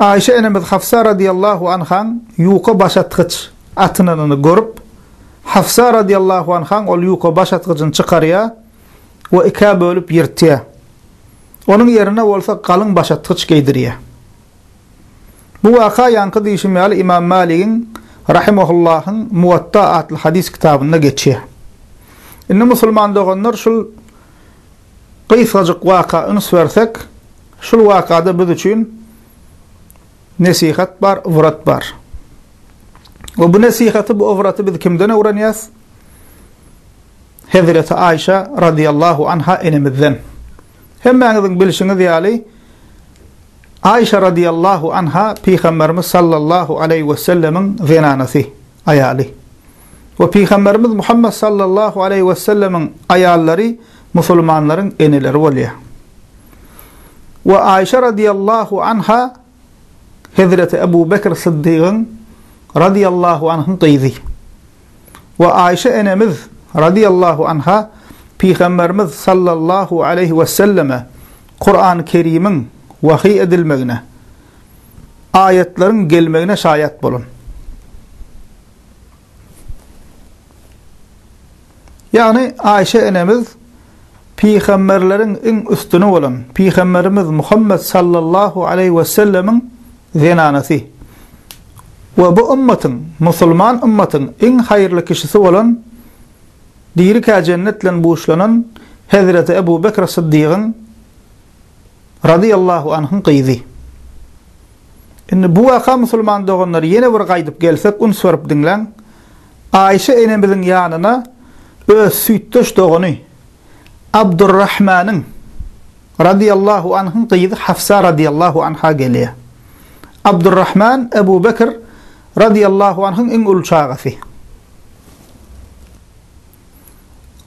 Aişe enemiz Hafsa radyýallahu anhaň ýuka başatgyç atynanyny görüp, Hafsa radyýallahu anhaň ol ýuka başatgyjyny çykarýar we ikä bölüp ýyrtýar. Onuň ýerine bolsa galyň başatgyç geýdirýär. Bu waka ýaňky diýşim ýaly Imam Maligiň rahimahullahyň Muwatta atly hadys kitabynda geçýär. Indi musulman doganlar şul Gysgajyk waka üns bersek, şul wakada biz üçin nesihat bar, ybrat bar. We bu nesihaty, bu ybraty biz kimden öwrenýäs? Hezreti Aýşa radiýallahu anha enemizden. Hemmäňiziň bilşiňiz ýaly, Aýşa radiýallahu anha Pygamberimiz sallallahu aleýhi wesellemiň zenanasy. aýaly we Pygamberimiz Muhammet sallallahu aleýhi we sellemiň aýallary musulmanlaryň eneleri bolýar. We Aýşe radiýallahu anha Hezreti Ebu Bekr Syddygyň radiýallahu anhyň gyzy. We Aýşe enemiz radiýallahu anha Pygamberimiz sallallahu aleýhi we selleme Kur'an-Kerimiň wahyý edilmegine aýatlaryň gelmegine şaýat bolan. Ýagny Aýşe enemiz pygamberleriň iň üstüni bolan pygamberimiz Muhammet sallallahu aleýhi we sellemiň zenanasy we bu ümmatyň, musulman ümmatyň iň haýyrly kişisi bolan dirikä jennet bilen buşlanan Hezreti Ebu Bekr Syddygyň Razyýallahu anhyň gyzy. Indi bu waka musulman doganlar ýene bir gaýdyp gelsek üns berip diňläň. Aýşe enemiziň ýanyna öz süýtdeş dogany Abdurrahmanyň Razyýallahu anhyň gyzy Hafsa Razyýallahu anha gelýär. Abdurrahman Ebu Bekr Razyýallahu anhyň iň uly çagasy.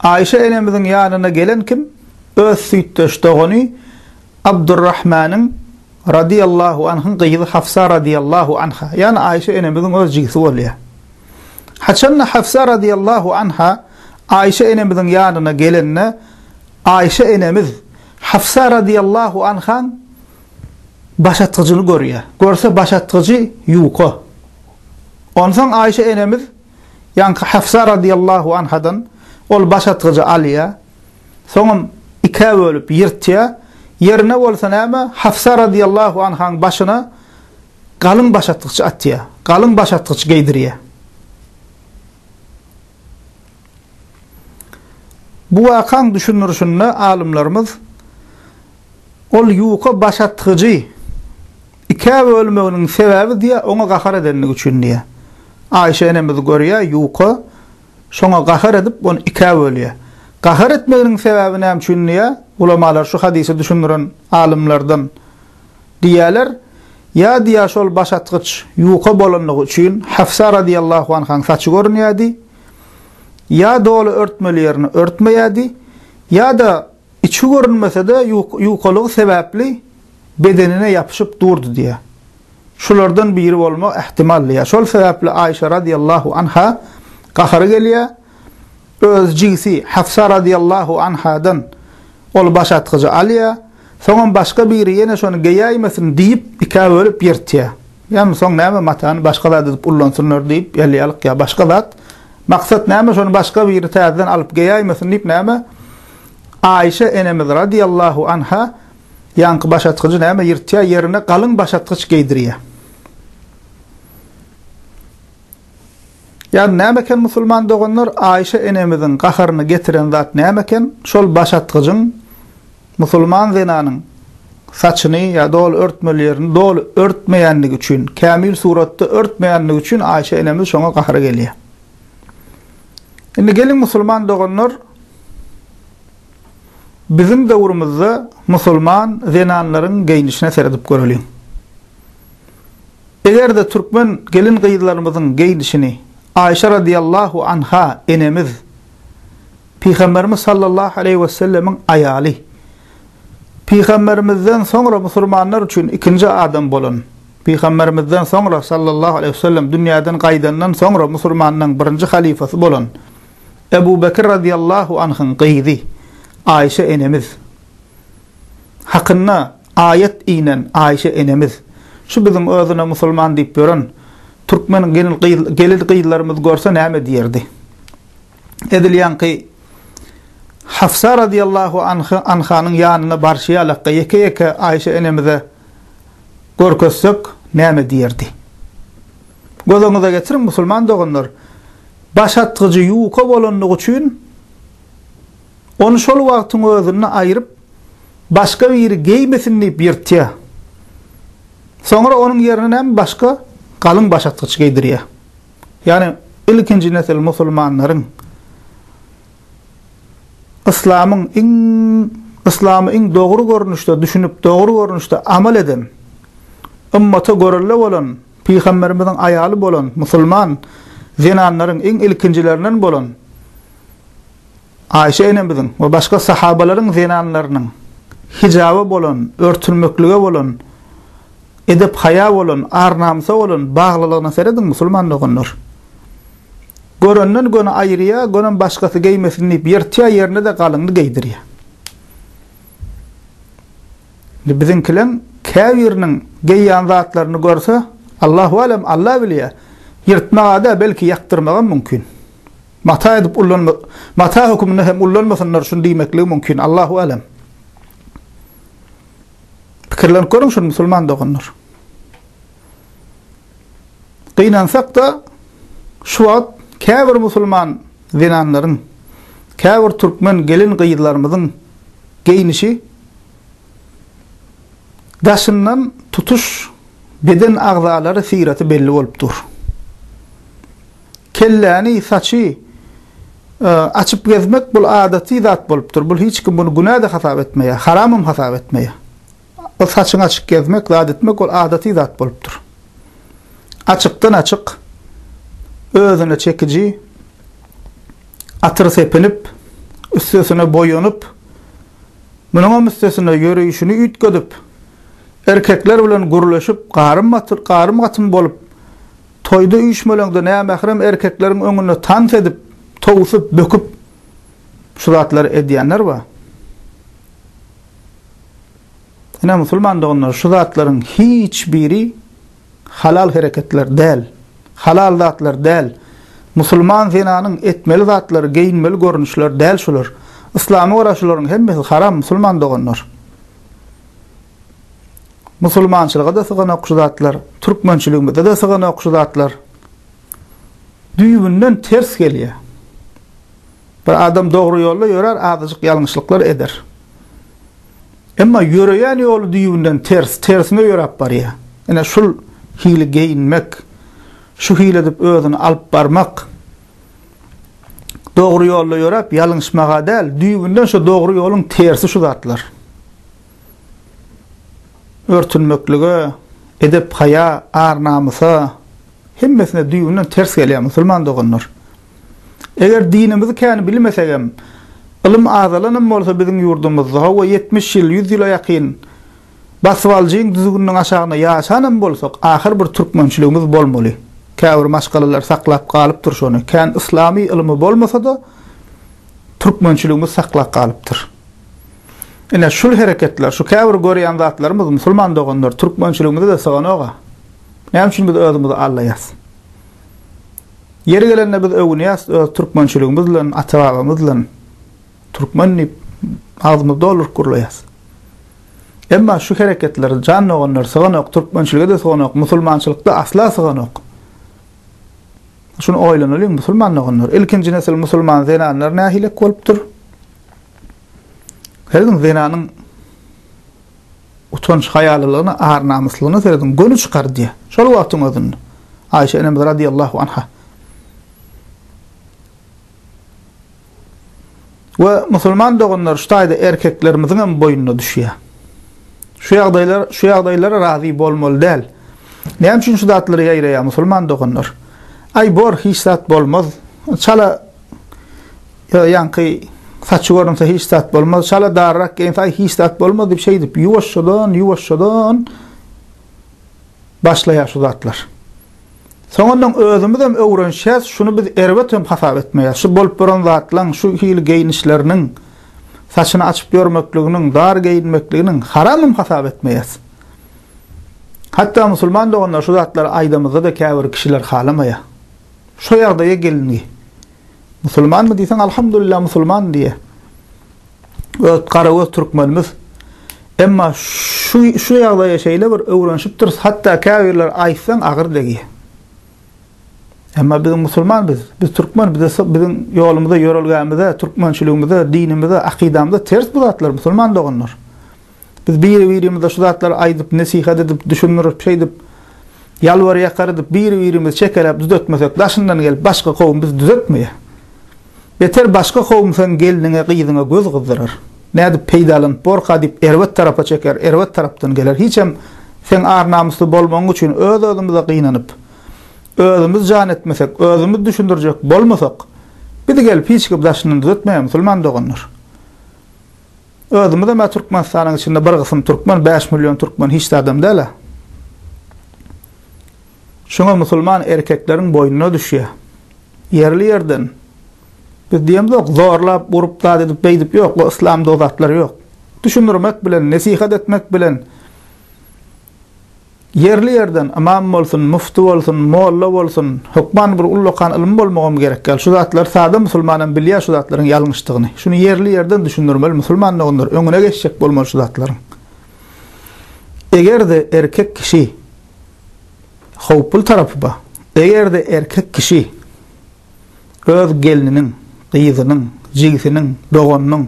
Aýşe enemiziň ýanyna gelen kim öz süýtdeş dogany Abdurrahmanyň Radiýallahu anhyň gyzy Hafsa Radiýallahu anha, ýagny Aýşe enemiziň öz jigisi bolýar. Haçanda Hafsa Radiýallahu anha Aýşe enemiziň ýanyna gelende Aýşe enemiz Hafsa Radiýallahu anhaň başatgyjyny görýär. Görse başatgyjy ýuka. Onsoň Aýşe enemiz. Ýaňky Hafsa radiyallahu anhadan ol baş atgyjy alýar. Soňam ikä bölüp ýyrtýar. Ýerine bolsa näme, Hafsa radiyallahu anhaň başyna galyň baş atgyç atýar. Galyň baş atgyç geýdirýär. Bu wakaň düşündirişinde alymlarymyz ol ýuka baş atgyjy Ikä bölmeginiň sebäbi diýýär, oňa gahar edendigi üçin diýýär. Aýşe enemiz görýär, ýuka, şoňa gahar edip, ony ikä bölýär. Gahar etmeginiň sebäbi näme üçin diýýär, ulamalar şu hadysy düşündiren alymlardan diýýärler, ýa diýýär şol başatgyç ýuka bolandygy üçin Hafsa razyýallahu anhaň saçy görünýärdi, ýa doly örtmeli ýerini örtmeýärdi, ýa-da, Içi görünmese-de, ýukalygy sebäpli bedenine ýapyşyp durdy diýýär. Şulardan biri bolmak ähtimal diýýär. Şol sebäpli Aýşa razyýallahu anha gahary gelýär. Öz jigisi Hafsa razyýallahu anhadan ol başatgyjy alýar. Soňam başga biri ýene şony geýäýmesin diýip, ikä bölüp ýyrtýar. Ýagny soň näme matany başga zat edip ullansynlar diýip, ýalýalyk ýa başga zat. Maksat näme şony başga biri täzeden alyp geýäýmesin diýip näme? Aişe enemiz radiallahu anha ýaňky başatgyjy näme ýyrtýar ýerine galyň başatgyç geýdirýär. Ýagny näme eken musulman doganlar Aişe enemiziň gaharyny getiren zat näme eken şol başatgyjyň musulman zenanyň saçyny ýa doly örtmeli ýerini doly örtmeýänligi üçin kämil suratda örtmeýänligi üçin Aişe enemiz şoňa gahary gelýär. Indi geliň musulman doganlar biziň döwrümizde musulman zenanlaryň geýnişine seredip göreliň. Eger-de türkmen gelin-gyzlarymyzyň geýnişini Aişa radiallahu anha enemiz, Pygamberimiz sallallahu aleýhi wesellemiň aýaly, Pygamberimizden soňra musulmanlar üçin ikinji adam bolan, Pygamberimizden soňra sallallahu aleýhi wesellem dünýäden gaýdandan soňra musulmanlaň birinji halyfasy bolan Ebu Bekir razyýallahu anhyň gyzy Aýşe enemiz hakynda aýat inen Aýşe enemiz şu biziň özüne musulman diýip ýören türkmen gelin gyz gelin gyzlarymyz görse näme diýerdi edil ýaňky Hafsa razyýallahu anhanyň ýanyna barşy ýalakka ýeke-ýeke Aýşe enemize görkezsek näme diýerdi? Göz öňüňize getiriň musulman doganlar, baş atgyjy ýuka bolanlygy üçin ony şol wagtyň özünde aýryp başga biri geýmesin diýip ýyrtýar. Soňra onuň ýerine näme başga galyň baş atgyç geýdirýär. Ýagny ilkinji nesil musulmanlaryň yslamyň iň yslamy iň dogry görnüşde düşünip, dogry görnüşde amal eden, ymmata görelde bolan pygamberimiziň aýaly bolan musulman zenanlaryň iň ilkinjilerinen bolan Aişe enemiziň we başga sahabalaryň zenanlarynyň hijaba bolan, örtülmeklige bolan, edep-haýa bolan, ar-namysa bolan baglylygyna serediň, musulman doganlar! Görenden göni aýyrýa, gönem başgasy geýmesin diýip ýyrtýa, ýerine-de galynyny geýdirýä. Indi biziňkileň käbiriniň geýýän zatlaryny görse, Allahu alem, Alla bilýä, ýyrtmaga-da, belki ýakdyrmagam mümkin. Mata edip ullanma mata höküminde hem ullanmasynlar şuny diýmekligi mümkin Allahu älem. Pikirlenip görüň şuny musulman doganlar. Gynansak-da şu wagt käbir musulman zenanlaryň, käbir türkmen gelin-gyzlarymyzyň geýnişi daşyndan tutuş beden agzalary syraty belli bolup dur. Kelläni, saçy açyp gezmek bul adaty zat bolupdyr. Bul hiç kim buny günä-de hasap etmeýär, haramam hasap etmeýär. Ol saçyňy açyk gezmek, zat etmek ol adaty zat bolupdyr. Açykdan-açyk özüne çekiji atyr sepinip, üstesine boýanyp, munuňam üstesine ýöreýşini üýtgedip, erkekler bilen gürleşip, garym-gatym bolup, Toýda üýşmeleňde nämährem erkekleriň öňünde tans edip, towsup, böküp şu zatlary edýänler bar. Ine, musulman doganlar, şu zatlaryň hiç biri halal hereketler däl, halal zatlar däl. Musulman zenanyň etmeli zatlary, geýinmeli görnüşleri däl şular. Yslama görä şularyň hemmesi haram, musulman doganlar. Musulmançylyga-da syganok şu zatlar, türkmençiligimize-de syganok şu zatlar. Düýbünden ters gelýär. Bir adam dogry ýolda ýörer, azajyk ýalňyşlyklar eder. Emma ýöreýän ýoly düýbünden ters, tersine ýöräp barýar. Ine şul hili geýinmek, şu hili edip özüni alyp barmak, dogry ýolda ýöräp ýalňyşmaga däl, düýbünden şu dogry ýoluň tersi şu zatlar. Örtünmeklige, edep-haýa, ar-namysa, hemmesine düýbünden ters gelýär, musulman doganlar. Eger dinimizi kän bilmesegem, ylym azalanam bolsa biziň ýurdumyzda, hawa, ýetmiş ýyl, ýüz ýyla ýakyn basbaljyň düzgüniniň aşagynda ýaşanam bolsak, ahyr bir türkmençiligimiz bolmaly. Käbir maşgalalar saklap galypdyr şony. Kän yslamy ylymy bolmasa-da, Türkmençiligimiz saklap galypdyr. Ine, şul hereketler, şu käbir görýän zatlarymyz, musulman doganlar, türkmençiligimize-de syganok-a. Näme üçin biz özümizi aldaýas? Ýeri gelende biz öwünýäs öz türkmençiligimiz bilen, ata-babamyz bilen. Türkmen diýip, agzymyzy dolduryp gürleýäs. Emma şu hereketler, jan doganlar, syganok, türkmençilige-de syganok, musulmançylyk-da asla syganok. Şuny oýlanalyň musulman doganlar, ilkinji nesil musulman zenanlar nähilek bolupdyr? Serediň zenanyň utanç haýalylygyna, ar-namyslygyna serediň, göni çykar diýýär. Şol wagtyň özünde Aýşe enemiz radiýallahu anha. we musulman doganlar şu taýda erkeklerimiziň hem boýnuna düşýär. Şu ýagdaýlar, şu ýagdaýlara razy bolmaly däl. Näme üçin şu zatlary ýaýraýar musulman doganlar? Aý bor, hiç zat bolmaz. Çala ýaňky saçy görünse hiç zat bolmaz. Çala darrak geýinse aý hiç zat bolmaz diýip şeýdip ýuwaşjadan, ýuwaşjadan başlaýar şu zatlar. Soňundan özümizem öwrenişýäs, şuny biz erbet hem hasap etmeýäs. Şu bolup duran zatlaň, şu hili geýnişleriniň, saçyny açyp ýörmekliginiň, dar geýinmekliginiň haram hem hasap etmeýäs. Hatda musulman doganlar şu zatlary aýdamyzda-da käbir kişiler halamaýar. Şu ýagdaýa gelindi. Musulmanmy diýseň, alhamdulillah musulman diýýär. öz garagöz türkmenimiz. Emma şu şu ýagdaýa şeýle bir öwrenişipdiris, hatda käbirler aýtsaň agyr degýär. Emma biz musulman biz, biz türkmen, biz biziň ýolumyza, ýörelgämize, türkmençiligimize, dinimize, akydamyza ters bu zatlar musulman doganlar. Biz biri-birimize şu zatlary aýdyp, nesihat edip, düşündirip, şeýdip, ýalbar-ýakar edip, biri-birimizi çekeläp düzetmesek, daşyndan gelip başga kowum bizi düzetmeýär. Beter başga kowum seň gelniňe, gyzyňa göz gyzdyrar. Nädip peýdalanyp borka diýip erbet tarapa çeker, erbet tarapdan geler. Hiçem seň ar-namysly bolmagyň üçin öz-özümize gynanyp, özümiz jan etmesek, özümiz düşündirjek bolmasak, bizi gelip hiç kim daşyndan düzetmeýär, musulman doganlar. Özümizem ä Türkmenistanyň içinde bir gysym türkmen, bäş million türkmen hiç zadam däl ä. Şuňa musulman erkekleriň boýnuna düşýä. Ýerli ýerden biz diýemzok zorlap urup zat edip beýdip ýok o islamda o zatlar ýok. Düşündirmek bilen nesihat etmek bilen Ýerli-ýerden ymam bolsun, mufty bolsun, molla bolsun, hökman bir ullakan ylmy bolmagam gerek däl. Şu zatlary sada musulmanam bilýär şu zatlaryň ýalňyşdygyny. Şuny ýerli-ýerden düşündirmeli musulman doganlar, öňüne geçjek bolmaly şu zatlaryň. Eger-de erkek kişi howply tarapy ba, eger-de erkek kişi öz gelniniň, gyzynyň, jigisiniň, doganynyň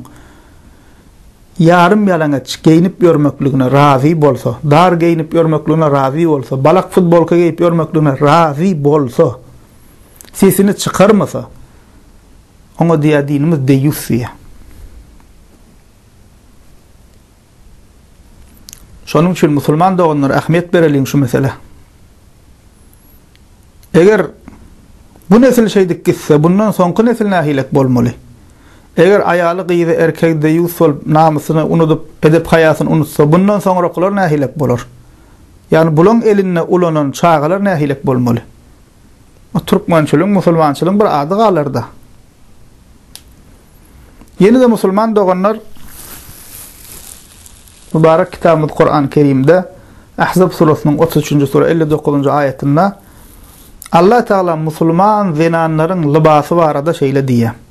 Ýarym ýalaňaç geýnip ýörmekligine razy bolsa, dar geýnip ýörmekligine razy bolsa, balak futbolka geýip ýörmekligine razy bolsa, sesini çykarmasa, oňa diýýär dinimiz deýýus diýýär. Şonuň üçin musulman doganlar ähmiýet bereliň şu meselä. Eger bu nesil şeýdip gitse, bundan soňky nesil nähilek bolmaly? Eger aýaly-gyzy erkegi deýýus bolup, namysyny unudyp, edep-haýasyny unutsa, bundan soňrakylar nähilek bolar? Ýagny, bulaň elinde ulanan çagalar nähilek bolmaly? Bu türkmençiligiň, musulmançylygyň bir ady galar-da. Ýene-de musulman doganlar, Mübarek kitabymyz Kur'an-ı Kerimde Ahzab surasynyň otuz üçünji sura elli dokuzynjy aýatynda Allah Taala musulman zenanlaryň lybasy barada şeýle diýýär.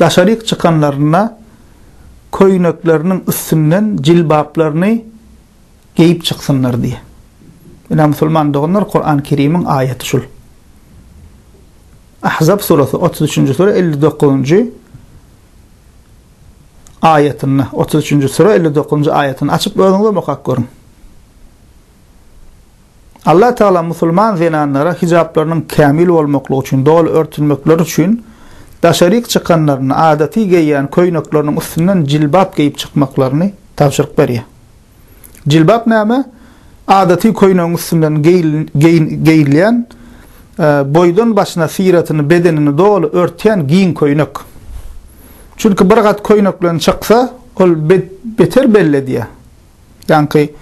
Daşaryk çykanlarynda köýnekleriniň üstünden jilbaplaryny geýip çyksynlar diýýär. Ine, musulman doganlar, Kuran Kerimiň aýaty şul. Ahzab surasy, otuz üçünji sure, elli dokuzynjy aýatynda, otuz üçünji sure, elli dokuzynjy aýatynda açyp özüňizem okap görüň. Allah Tagala musulman zenanlara hijaplarynyň kämil bolmaklygy üçin doly örtünmekleri üçin daşaryk çykanlarynda adaty geýýän köýnekleriniň üstünden jilbap geýip çykmaklaryny tabşyryk berýär. Jilbap näme? Adaty köýnegiň üstünden geýilýän boýdan başyna syratyny, bedenini doly örtýän giň köýnek. Çünki bir gat köýnek bilen çyksa, ol beter belli edýär. Ýaňky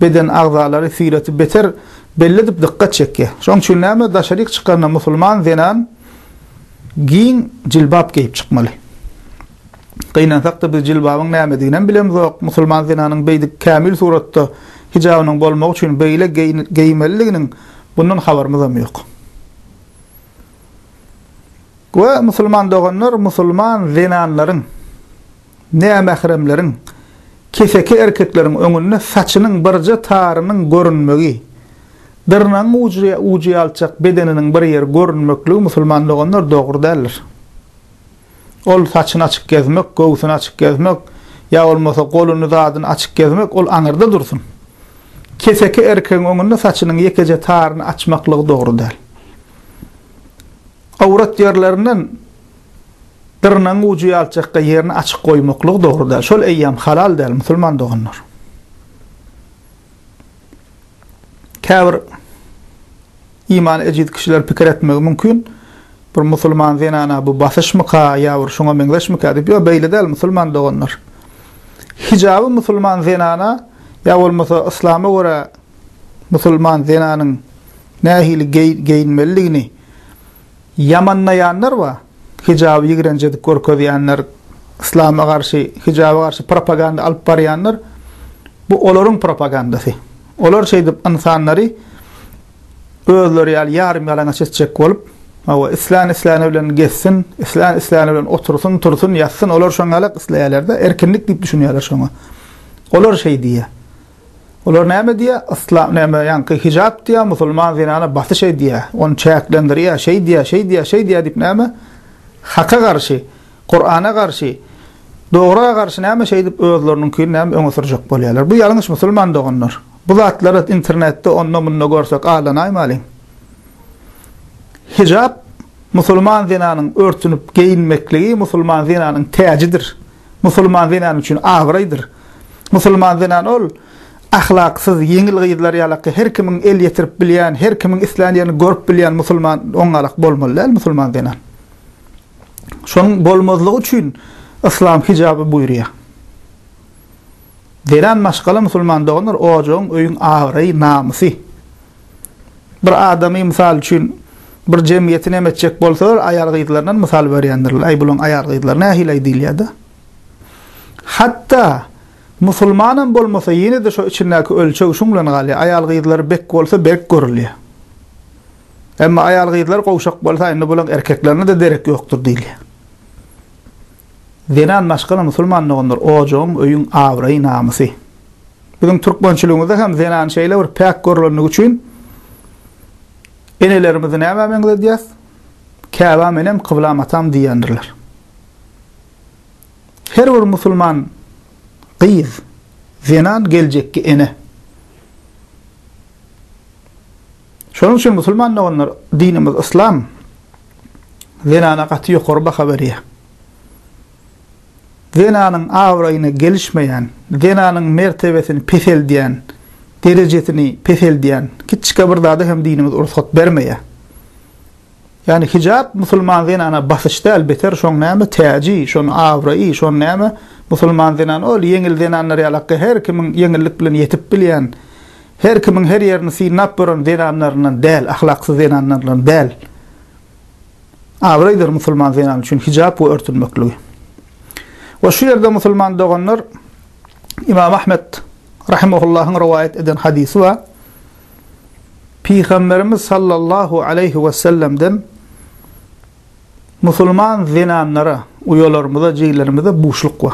beden agzalary syreti beter belledip dykgat çekýär. Şoň üçin näme daşaryk çykanda musulman zenan giň jilbap geýip çykmaly. Gynansakda biz jilbabyň nämediginem bilemzok, musulman zenanyň beýdip kämil suratda hijabynyň bolmagy üçin beýle geýmelidiginiň bundan habarymyzam ýok. We musulman doganlar musulman zenanlaryň Nämähremleriň, keseki erkekleriň öňünde saçynyň birje tarynyň görünmegi, dyrnagyň ujy ýalçak bedeniniň bir ýeri görünmekligi musulman doganlar dogry däldir. Ol saçyny açyk gezmek, göwsüni açyk gezmek ýa bolmasa goluny zadyny açyk gezmek ol aňyrda dursun. Keseki erkegiň öňünde saçynyň ýekeje taryny açmaklygy dogry däl. Awrat ýerlerinden Dyrnagyň ujy ýalçakga ýerini açyk goýmaklygy dogry däl. Şol eýýäm halal däl, musulman doganlar. Käbir imany ejiz kişiler pikir etmegi mümkin, bir musulman zenana bu basyşmyka ýa bir şuňa meňzeşmikä diýip, ýok, beýle däl, musulman doganlar. Hijaby musulman zenana ýa bolmasa yslama görä musulman zenanyň nähili geýinmelidigini, Ýamanlaýanlar bar. Hijaby ýigrenç edip görkezýänler, yslama garşy, hijaba garşy propaganda alyp barýanlar, bu olaryň propagandasy. Olar şeýdip ynsanlary özleri ýaly ýarym-ýalaňaç etjek bolup, hawa, islän-isläni bilen gezsin, islän-isläni bilen otursyn, tursyn, ýatsyn, olar şoňa-la isleýärler-de, erkinlik diýip düşünýärler şoňa. Olar şeý diýýär. Olar näme diýýär? Yslam näme, ýaňky hijap diýýär, musulman zenana basyş edýär, ony çäklendirýär, şeý diýýär, şeý diýýär, şeý diýýär diýip näme? Haka garşy, Kurana garşy, dogra garşy näme şeýdip özleriniňkini näme öňe sürjek bolýarlar? Bu ýalňyş musulman doganlar. Bu zatlary internetde onda-munda görsek aldanaýmalyň. Hijap musulman zenanyň örtünip geýinmekligi musulman zenanyň täjidir. musulman zenan üçin abraýdyr. Musulman zenan ol ahlaksyz, ýeňil gyzlar ýalaka her kimiň el ýetirip bilýän, her kimiň islän ýerini görüp bilýän musulman oňňalak bolmaly däl musulman zenan. Şonuň bolmazlygy üçin yslam hijaby buýurýar. Zenan maşgala musulman doganlar ojagyň, öýüň abraýy, namysy. bir adamy, mysal üçin, bir jemgyýeti näme etjek bolsalar, aýal-gyzlaryndan mysal berýändirler. Äý, bularyň aýal-gyzlary nähili-aý diýilýär-de. Hatda musulmanam bolmasa, ýene-de şo içindäki ölçeg şuň bilen galýar, aýal-gyzlary bek bolsa, berk görülýär. Emma aýal-gyzlary gowşak bolsa, indi bularyň erkeklerine-de derek ýokdur diýilýär. Zenan maşgala musulman doganlar ojagyň öýüň abraýy namysy. Biziň türkmençiligimizde hem zenan şeýle bir päk görlendigi üçin enelerimizi nämä meňzedýäs? Käbäm enem kyblam atam diýendirler. Her bir musulman gyz zenan geljekki ene. Şonuň üçin musulman doganlar dinimiz yslam zenana gaty ýokary baha berýär. Zenanyň abraýyna gelişmeýän, zenanyň mertebesini peseldýän, derejesini peseldýän kiçjike bir zada hem dinimiz rugsat bermeýär. Ýani hijap musulman zenana basyş däl, beter şoň näme täji, şoň abraýy, şoň näme musulman zenan ol ýeňil zenanlar ýalak her kimiň ýeňillik bilen ýetip bilýän, Her kimiň her ýerini synlap gören zenanlaryndan däl, ahlaksyz zenanlaryndan däl. Abraýdyr musulman zenany üçin hijap we örtünmekligi. We şu ýerde musulman doganlar Imam Ahmet rahimahullahyň rowaýat eden hadysy bar. Pygamberimiz sallallahu aleýhi we sellemden musulman zenanlara, uýalarymyza, jigilerimize buşluk bar.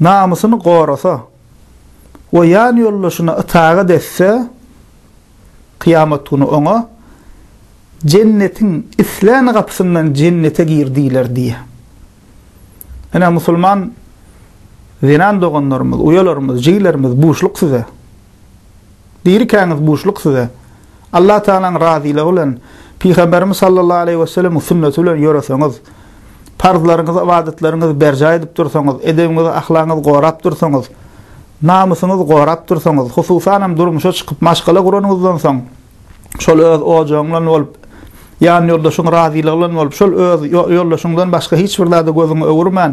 namysyny gorasa we ýanýoldaşyna itagat etse, kyýamat güni oňa, Jennetiň islän gapysyndan jennete gir diýler diýýär. Ine, musulman zenan doganlarymyz, uýalarymyz, jigilerimiz, buşluk size! Dirikäňiz buşluk size. Allah Tagalaň razylygy bilen Pygamberimiz sallallahu aleýhi we sellemiň sünneti bilen ýöreseňiz, parzlaryňyzy, ybadatlaryňyzy berjaý edip dursaňyz, edebiňizi, ahlagyňyzy gorap dursaňyz, namysyňyzy gorap dursaňyz, hususanam durmuşa çykyp maşgala guranyňyzdan soň, şol öz ojagyň bilen bolup, ýanýoldaşyň razylygy bilen bolup, şol öz ýoldaşyňdan başga hiç bir zada gözüňi öwürmän,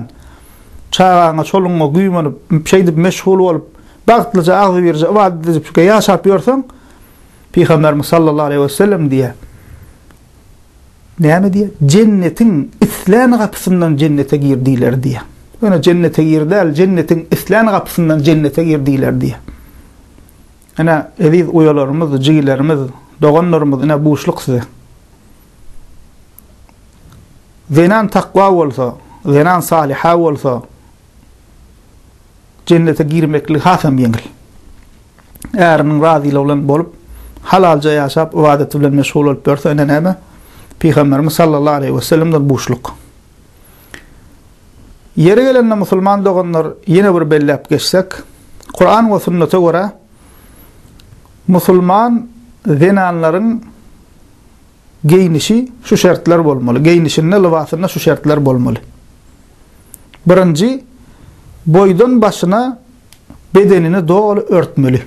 çagaňa, çoluňa güýmenip, şeýdip meşgul bolup, bagtlyja, agzybirje ybadat edip ýaşap ýörseň, Pygamberimiz sallallahu aleýhi we sellem diýýär, näme diýýär? Jennetiň islän gapysyndan jennete gir diýler diýýär. Ýöne jennete gir däl, jennetiň islän gapysyndan jennete gir diýler diýýär. Ene, eziz uýalarymyz, jigilerimiz, doganlarymyz, ene buşluk size. Zenan takwa bolsa, zenan salyha bolsa, jennete girmeklik hasam ýeňil. Äriniň razylygy bilen bolup, halalja ýaşap, ybadaty bilen meşgul bolup ýörse, ine näme? Pygamberimiz sallallahu aleyhi ve sellemden buşluk. Yeri gelende musulman doganlar yine bir bellep geçsek, Kur'an ve sünnete göre musulman zenanların geýnişi şu şertler bolmaly, geýnişinde, lybasynda şu şertler bolmaly. Birinji, boýdan başyna bedenini doly örtmeli.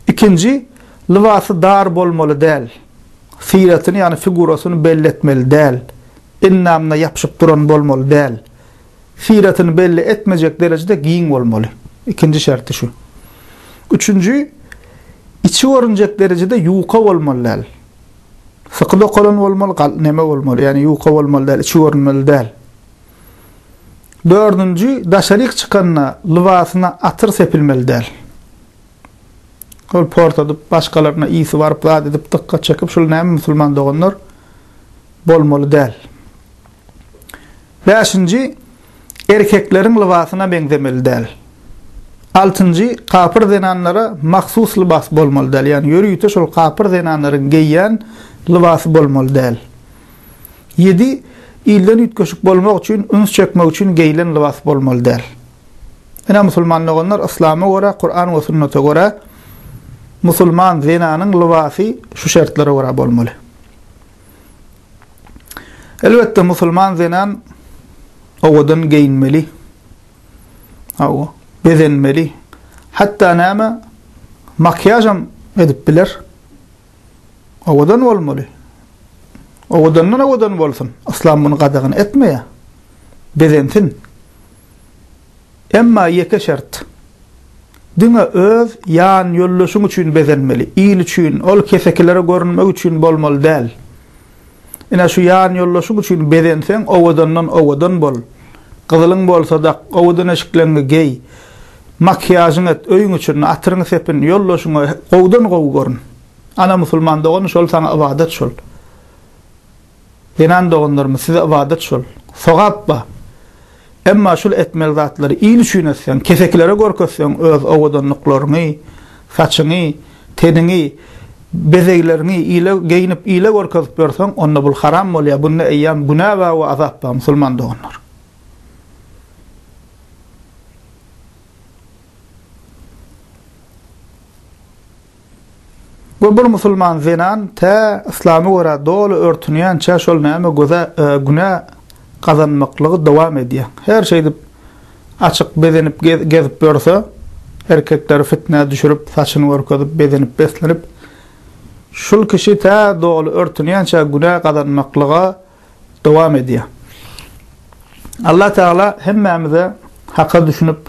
Ikinji, lybasy dar bolmaly däl. Syratyny, ýagny figurasyny belletmeli däl. Endamyna ýapyşyp duran bolmaly däl. syratyny belli etmejek derejede giň bolmaly. Ikinji şerti şu. Üçünji, içi görünjek derejede ýuka bolmaly däl. Syky dokalan bolmaly, gal, neme bolmaly, ýagny ýuka bolmaly däl, içi görünmeli däl. Dördünji, daşaryk çykanda lybasyna atyr sepilmeli däl. Ol portadyp, başgalaryna ýygy baryp, zat edip, dykgat çekip, şul näme musulman doganlar bolmaly däl. Bäşinji, Erkekleriň lybasyna meňzemeli däl. Altynjy, Kapyr zenanlara mahsus lybas bolmaly däl, ýagny ýörite şol kapyr zenanlaryň geýýän lybasy bolmaly däl. Ýedi, Ilden üýtgeşik bolmak üçin, üns çekmek üçin geýilen lybas bolmaly däl. Ine, musulman doganlar, yslama görä, Kuran we sünnete görä, musulman zenanyň lybasy şu şertlere görä bolmaly. Elbetde musulman zenan owadan geýinmeli. Hawa, bezenmeli. Hatda näme makiýažam edip biler. Owadan bolmaly. Owadandan owadan bolsun. Islam muny gadagan etmeýär. Bezensin. Emma ýeke şert, diňe öz ýan ýoldaşyň üçin bezenmeli, il üçin, ol kesekilere görünmek üçin bolmaly däl. Ine şu ýan ýoldaşyň üçin bezenseň owadandan owadan bol, gyzylyň bolsa dak, owadan eşikleňňi geý, makiýažyň et, öýüň içini, atyryňy sepin, ýoldaşyňy gowudan gowy görün. Ana musulman dogany şol saňa ybadat şol. Zenan doganlarymyz size ybadat şol, sogap bar. Emma şul etmeli zatlary il üçin etseň, kesekilere görkezseň öz owadanlyklaryňy, saçyňy, teniňi, bezegleriňi ile geýnip ile görkezip ýörseň onda bul haram bolýar, bunda eýýäm günä bar we azap bar musulman doganlar. We bir musulman zenan tä yslama görä doly örtünýänçä şol näme göze günä gazanmaklygy dowam edýär. Her şeýdip açyk bezenip gezip ýörse, erkekleri fitnä düşürip, saçyny görkezip, bezenip beslenip, şul kişi tä doly örtünýänçä günä gazanmaklyga, dowam edýär. Allah Tagala hemmämize haka düşünip,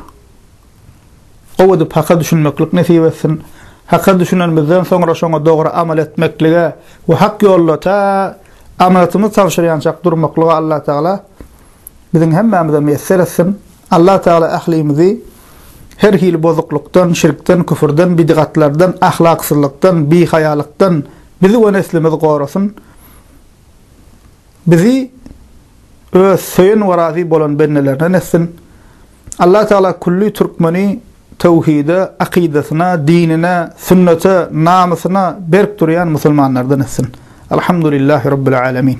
gowy edip haka düşünmeklik nesip etsin. Haka düşünenimizden soňra şoňa dogry amal etmeklige we hak ýolda ta amanatymyzy tabşyrýançak durmaklyga Allah Tagala biziň hemmämize miýesser etsin. Allah Tagala ählimizi her hili bozuklykdan, şirkden, küfürden, bidgatlardan, ahlaksyzlykdan, bihaýalykdan bizi we neslimizi gorasyn. Bizi öz söýen we razy bolan bendelerinden etsin. Allah Taala külli türkmeni töwhide, akydasyna, dinine, sünnete, namysyna berk durýan musulmanlardan etsin. Alhamdulillahi Rabbil Alemin.